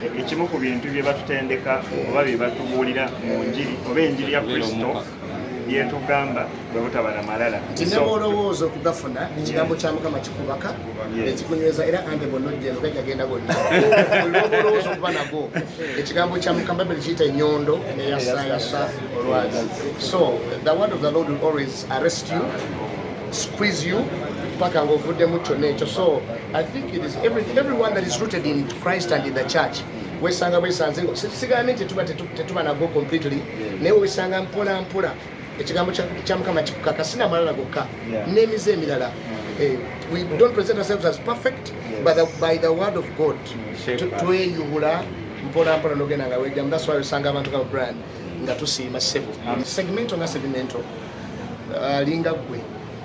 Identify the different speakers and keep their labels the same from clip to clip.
Speaker 1: ekimu ku bintu bye batutendeka oba bye batubuulira mu njiri oba enjiri ya kristo byetugamba bwe butaba na malala tinebwolowooza
Speaker 2: okugafuna ekigambo kya mukama kikubaka ekikunyweza era ande bwonojjeno gajagenda gonna olwobolowooza okuba nago ekigambo kya mukama babiri kiyita enyondo eyasayasa olwazi so the word of the lord will always arrest you squeeze you paka ngaovuddemu kyonna ekyo so I think it is every, everyone that is rooted in Christ and in the church wesanga bwesanze sigambe nti tuba tetuba nago completely naye wesanga mpola mpola ekigambo kya mukama kikukaka sina malala gokka n'emize emirala eh, we don't present ourselves as perfect by the, by the word of god tweyubula mpola mpola nogenda nga wejamu that's why wesanga abantu ka brand nga tusiima sebo segmento nga segmento alinga uh, gwe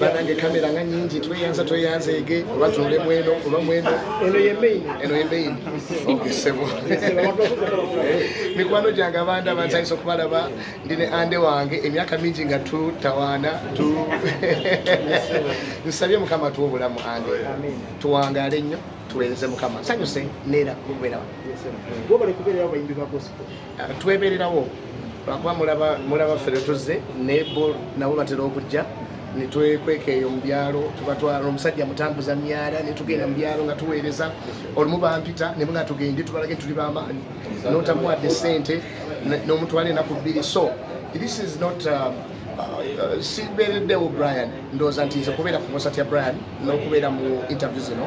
Speaker 2: banange kamera nga nyingi tweyanza tweyanzeege oba tuule mweno oba mweno eno ye main eno ye main okisebo mikwano gyange abanda bantayisa okubalaba ndi ne ande wange emyaka mingi nga tutawaana tu nsabye mukama tuwa obulamu ande tuwangaale nnyo tuweereze mukama nsanyuse neera kubeerawo
Speaker 3: twebererawo
Speaker 2: lwakuba mulaba ffe lwetuzze naye bo nabo batera okujja netwekweka eyo mubyalo tubatwala omusajja mutambuza myala netugenda mubyalo nga tuweereza olumu bampita nemuga tugende tubalage tuli bamaanyi notamuwadde sente nomutwala enaku bbiri so this is not um, uh, sibeereddewo brian ndowooza nti nze kubeera ku konsat ya brian n'okubeera mu interview zino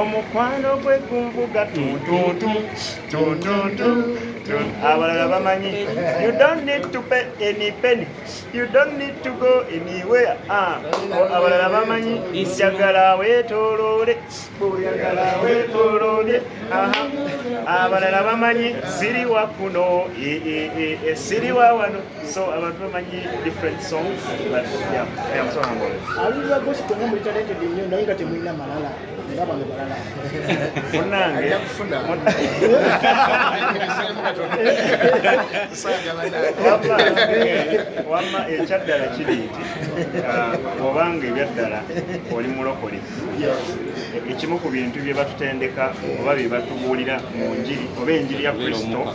Speaker 1: omukwano gwe gunvuga tuntuntu tuntuntu abalala bamanyi you don't need to pay any penny you don't need to go anywhere ah, abalala bamanyi njagala wetolole oyagala wetolole abalala bamanyi siriwa kuno e, e, e, siriwa wano So abantu bamanyi different songs but yeah, I am so humble. Aliza gospel nga
Speaker 3: muli talented nnyo naye nga temulina malala nga bano balala. Munnange
Speaker 1: ajja kufuna. Wamma ekyaddala kiri nti uh, obanga ebyaddala oli mulokole ekimu ku bintu bye batutendeka oba bye batubuulira mu njiri oba enjiri ya Kristo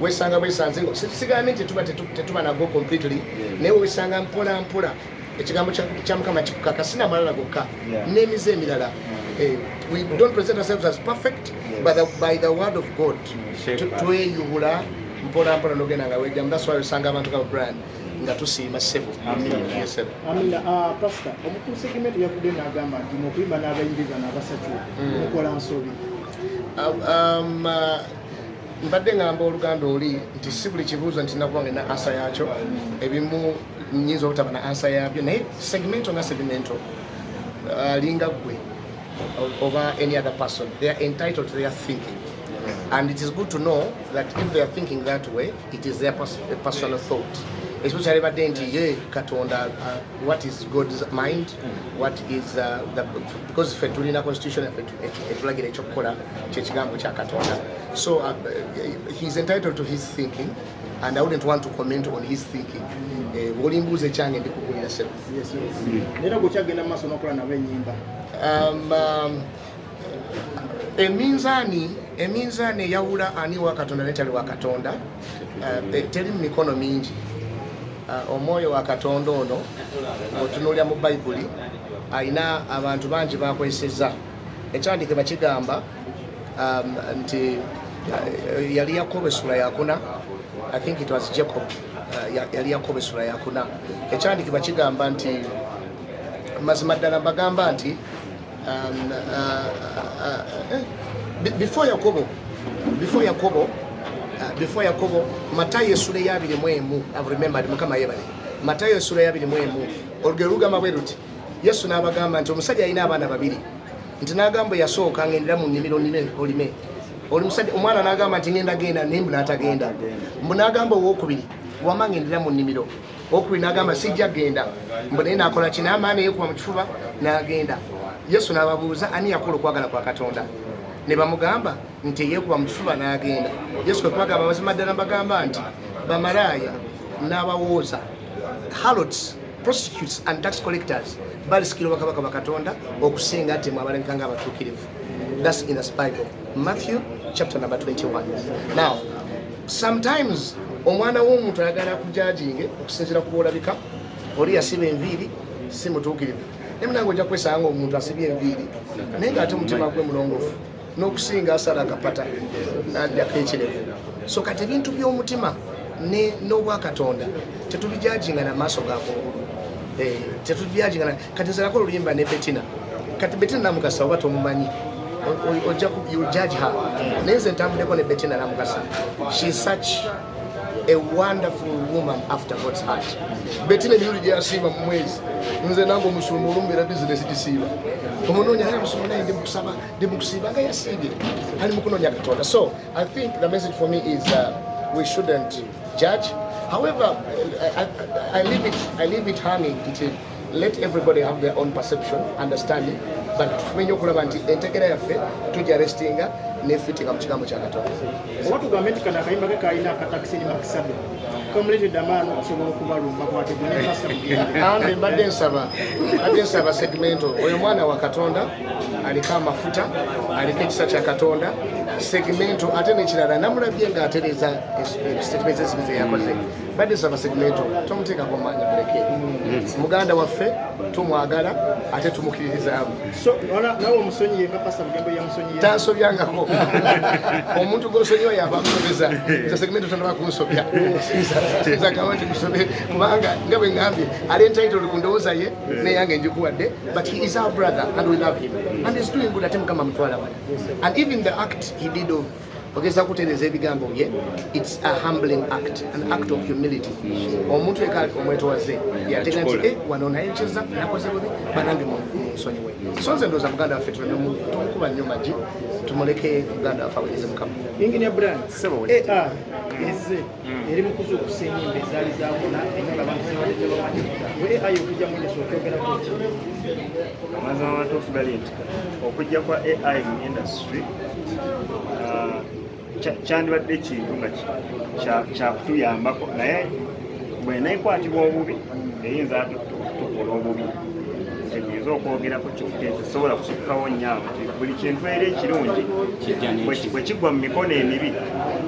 Speaker 2: wesanga bwesanze nga sigambi nti tuba tetuba nago completely naye wesanga mpola mpola ekigambo kya mukama kikukaka sina malala gokka n'emize emirala eh, we don't present ourselves as perfect but the, by the word of god tweyubula mpola mpola nogenda nga wejamu that's why wesanga abantu kaba brand nga tusiima ssebo amina ah, pasita
Speaker 3: omukulu segimenti yavudde nagamba nti mukuyimba n'abayimbi bano abasatu mm. mukola nsobi ah, um, ah,
Speaker 2: mbadde ngamba oluganda oli nti si buli kibuuzo nti nakuba ngena ansa yakyo ebimu nyinza obutaba na ansa yabyo naye segmento nga segmento uh, linga gwe oba any other person they are entitled to their thinking and it is good to know that if they are thinking that way it is their pers personal thought especially badde nti ye katonda uh, what is god's mind what is uh, the, because fe tulina constitution efe ekitulagira ekyokukola kyekigambo kya katonda so uh, he's entitled to his thinking and i wouldn't want to comment on his thinking eh, bwolimbuuza ekyange ndikugulira sebo era gwekyagenda mu maaso nokola nabo enyimba um, um, eminzaani eminzaani eyawula ani wa katonda netali wa katonda Eh, eh, teri mumikono mingi eh, omwoyo wa katonda ono otunulira mu bayibuli alina abantu bangi bakozeseza ekyandike bakigamba um, nti yali yakobo esula yakuna i think it was jacob yali yakobo esula yakuna ekyandike bakigamba nti mazima ddala mbagamba nti Um, uh, uh, uh, eh, before Yakobo, before Yakobo, uh, before Yakobo, Matayo esula eyabiri mu emu, I've remembered, mukama yebale. Matayo esula eyabiri mu emu, olugero lugamba bwe luti, Yesu n'abagamba nti omusajja alina abaana babiri, nti n'agamba yasooka ng'endera mu nnimiro nnime olime. Oli musajja omwana n'agamba nti ng'enda genda naye mbu n'atagenda. Mbu n'agamba owookubiri, wama ng'endera mu nnimiro. okuli n'agamba sijja genda mbu naye nakola ki n'amaana eyekuba mu kifuba n'agenda yesu n'ababuuza ani yakola okwagala kwa katonda ne bamugamba nti eyekuba mu kifuba n'agenda yesu kwe kubagamba mazima ddala mbagamba nti bamalaaya n'abawooza halots prostitutes and tax collectors balisikira obwakabaka bwa katonda okusinga ate mwabalabika nga abatuukirivu thats in the bible Matthew chapter number 21. Now, sometimes omwana w'omuntu ayagala kujajinge okusinzira ku bwolabika oli yasiba enviiri si mutuukirivu naye munange ojja kwesanga omuntu asibye enviiri naye nga ate omutima gwe mulongofu n'okusinga asala akapata najjako ekirevu so kati ebintu by'omutima n'obwakatonda tetubijajinga na maaso gakungulu eh, tetubijajinga kati nzalako oluyimba ne betina kati betina namukasa oba tomumanyi ojja judge her naye nze ntambuleko ne betina namukasa she such a wonderful woman after God's heart. Bettina Yuri Jasiva Mwezi, Mze Nango Musumu, Rumbira business Jisiva. Umunonya haya Musumu na ndimu kusaba, ndimu kusiva, nga yasidi. Hani mkuno nyaka toda. So, I think the message for me is uh, we shouldn't judge. However, I, I, I leave it, I leave it hanging until let everybody have their own perception understanding but tumenye okulaba nti entegera yaffe tujja restinga nefitinga mu kigambo kya katonda oba tugambe nti
Speaker 3: kano akayimba ke kalina akataxi ne makisabi kamuletedde amaani okusobola okubalumba kwategeambe mbadde nsaba
Speaker 2: mbadde nsaba segmento oyo mwana wa katonda aliko amafuta aliko ekisa kya katonda segmento ate nekirala namulabye nga atereza statement ezibize yakoze badde saba segmento tomuteekako maanyi muleke mm. muganda waffe tumwagala ate tumukiririzaamu
Speaker 3: tansobyangako
Speaker 2: omuntu gwosonyiwa yaba amusobeza nze segmento tanaba kunsobya nzagamba nti musobe kubanga nga bwe ngambye ali entitled ku ndowooza ye neyange njikuwadde but he is our brother and we love him and is doing good ate mukama mutwala wala and even the act he did of ogeza kutereza ebigambo bye its a humbling act an act of humility omuntu eka omwetowaze yatega nti e wano naye nkyeza nakoze bubi banange munsonyiwe so nze ndoza muganda waffe tumukuba nnyo magi tumuleke muganda waffe awereze mukama inginia bran
Speaker 3: aa eze hmm. eri mukuza okusa enyimba ezaali zabona enyimba abantu zibadde tebamanyi were ayi okujja mwenyesa okyogerako ki amazima
Speaker 1: amatuufu gali nti okujja kwa ai mu industry uh, kyandibadde ekintu nga kyakutuyambako naye bwenaekwatibwa obubi eyinza ate tukola obubi kyenyinza okwogerako kyosobola kusukawo nyawo buli kintu era ekirungi bwekigwa mu mikono emibi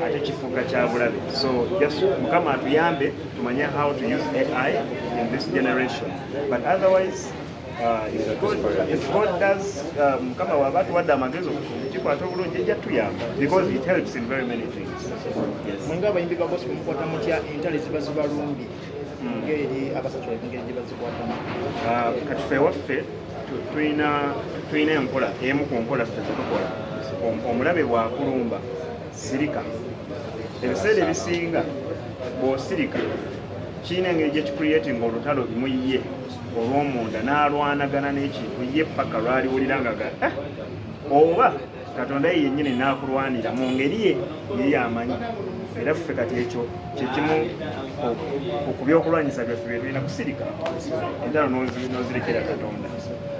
Speaker 1: ate kakyabulabe so just mukama atuyambe tumanye how to use ai in this generation but otherwise uh, if God, if God does uh, mukama waba atuwadde amagezi okukikwata obulungi ejja tuyamba because it helps in very many things yes. mwinga abayimbi
Speaker 3: ba gospel mukwata mutya entale ziba zibalungi hmm. ngeri abasatu engeri gye bazikwatamu uh, kati fe
Speaker 1: waffe tulina enkola emu ku nkola ffe zetukola omulabe bwakulumba sirika ebiseera ebisinga bw'osirika kirina engeri gye kicreating olutalo mu ye olw'omunda n'alwanagana n'ekintu ye paka lwaliwulira nga ga eh, oba katonda ye yennyini n'akulwanira mu ngeri ye ye yamanyi era ffe kati ekyo kyekimu ku byokulwanyisa byaffe bye tulina kusirika entalo n'ozirekera katonda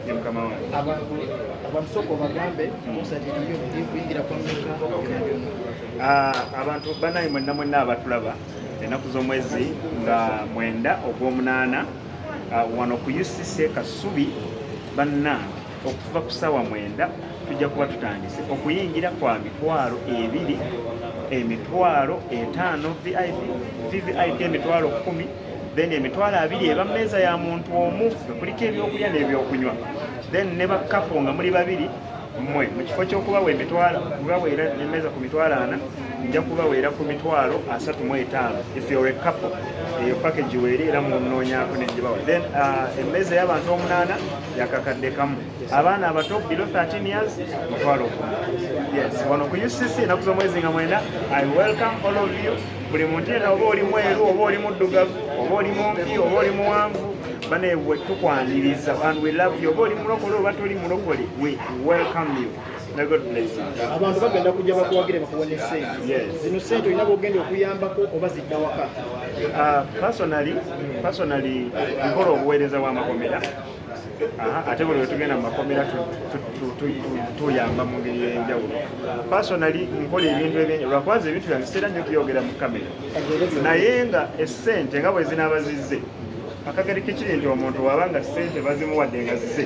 Speaker 1: ye mukama wange
Speaker 3: Ah, abantu
Speaker 1: banaye mwenna mwenna abatulaba ennaku z'omwezi nga mwenda ogw'omunaana ah, wano ku ucc e kasubi banna okuva ku saawa mwenda tujja kuba tutandise okuyingira kwa mitwalo ebiri emitwalo etaano vip vvip emitwalo kumi then emitwalo abiri eba mmeeza ya muntu omu nga kuliko ebyokulya n'ebyokunywa then ne bakkapo nga muli babiri mmwe mu kifo ky'okubawa emitwalo kubaweera emmeeza ku mitwalo ana nja kubaweera ku mitwalo asatu mu etaano if you're a couple eyo package weeri era munoonyako ne gibawa then uh, emmeeza y'abantu omunaana yakakadde kamu abaana abato below 13 years mutwalo yes wano ku ucc enaku z'omwezi nga mwenda i welcome all of you buli muntu yena oba oli mweru oba oli muddugavu oba oli mumpi oba oli muwanvu banaye we tukwaniriza and we love you oba oli mulokole oba toli mulokole we welcome you abantu bagenda kujja
Speaker 3: bakuwagire bakuwa ne sente zino sente olina
Speaker 1: bogenda
Speaker 3: okuyambako oba zidda waka ah,
Speaker 1: personally nkola obuweereza bw'amakomera ate buli wetugenda mu makomera tuyamba mu ngeri yenjawulo personally nkola ebintu ebyenjawulo lwakubanza ebintu byange sitera nyo kuyogera mu kamera naye nga esente nga bwezinaaba zizze akageri kekiri nti omuntu waba nga sente bazimuwadde nga zize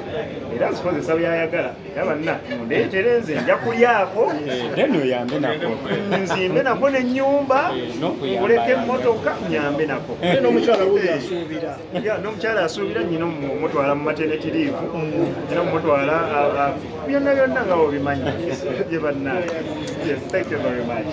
Speaker 1: era azikozesa byayagala era banna mundeetere nze nja kulyako nzimbe nako nenyumba eh, kuleka emmotoka nyambe nako eh,
Speaker 3: ya n'omukyala
Speaker 1: asuubira nyina omutwala mu maternity leave nyina omutwala byonna byonna nga obimanyi ye bannange yes thank you very much